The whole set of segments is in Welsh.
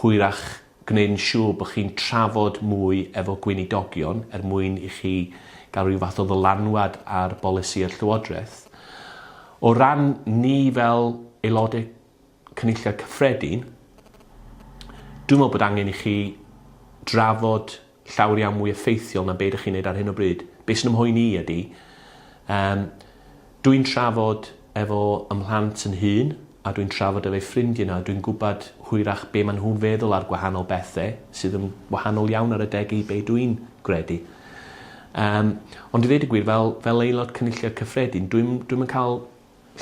hwyrach gwneud yn siŵr bod chi'n trafod mwy efo gweinidogion er mwyn i chi gael rhyw fath o ddylanwad ar bolisïau'r Llywodraeth. O ran ni fel Aelodau Cynulliad Cyffredin, dwi'n meddwl bod angen i chi drafod llawr iawn mwy effeithiol na be ydych chi'n neud ar hyn o bryd. Be sy'n 'y mhoeni i ydi, yym, dw i'n trafod efo 'y mhlant yn hun, a dw i'n trafod efo'u ffrindie nawr, dw i'n gwbod hwyrach be ma' nhw'n feddwl ar gwahanol bethe, sydd yn wahanol iawn ar adeg i be dw i'n gredu. Yym, ond i ddeud y gwir, fel, fel Aelod Cynulliad Cyffredin, dw i'm, dw i'm yn ca'l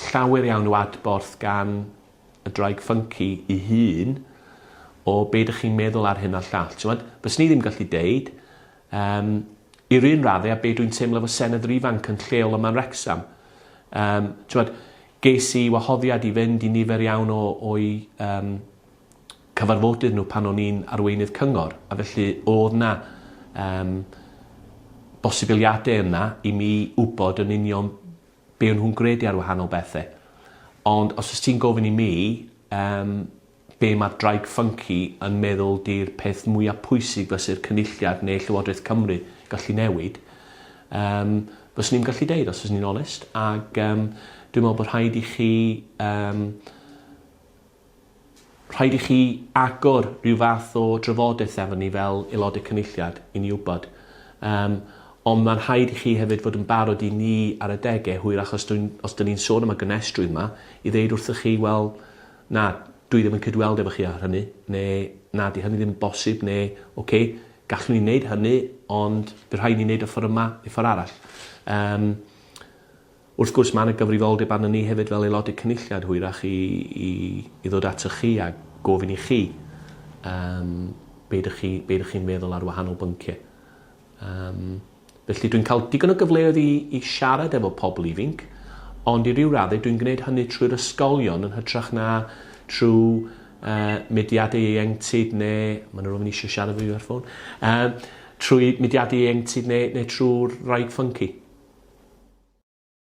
llawer iawn o adborth gan y ddraig ffynci i hun o be dych chi'n meddwl ar hyn a'r llall. Tywed, fyswn i ddim gallu deud, um, i'r un raddau a be dwi'n teimlo fo senedd yr ifanc yn lleol yma'n Rexham. Um, tywed, ges i wahoddiad i fynd i nifer iawn o, o'i um, cyfarfodydd nhw pan o'n i'n arweinydd cyngor, a felly oedd na um, bosibiliadau yna i mi wybod yn union be o' nhw'n gredu ar wahanol bethe. Ond os wyt ti'n gofyn i mi yym be' ma' Draig Ffynci yn meddwl 'di'r peth mwya pwysig fyse'r Cynulliad ne' Llywodraeth Cymru gallu newid yym fyswn i'm gallu deud os fyswn i'n onest ag yym dwi me'wl bo' rhaid i chi yym Rhaid i chi agor rhyw fath o drafodaeth efo ni fel Aelodau Cynulliad i ni wybod. Yym, ond mae'n rhaid i chi hefyd fod yn barod i ni ar adegau hwyr achos dw i'n, os 'dyn ni'n sôn am y gonestrwydd 'ma, i ddeud wrthych chi, wel, na, dw i ddim yn cydweld efo chi ar hynny, neu na, 'di hynny ddim yn bosib, neu, ocê, gallwn ni wneud hynny, ond bydd rhaid i ni wneud o ffor' yma neu ffor' arall. Yym. Wrth gwrs, mae yna gyfrifoldeb arnon ni hefyd fel Aelodau Cynulliad, hwyrach, i, i, i ddod atoch chi a gofyn i chi um, be ydych chi, be ydych chi'n meddwl ar wahanol bynciau. Um, felly dwi'n cael digon o gyfleoedd i, i siarad efo pobl ifinc, ond i ryw raddau dwi'n gwneud hynny trwy'r ysgolion yn hytrach na trwy uh, mediadau ieuenctid neu... Mae yna rhywun eisiau siarad efo fi ar ffôn. Um, trwy mediadau ieuenctid neu, neu trwy'r rhaid ffynci.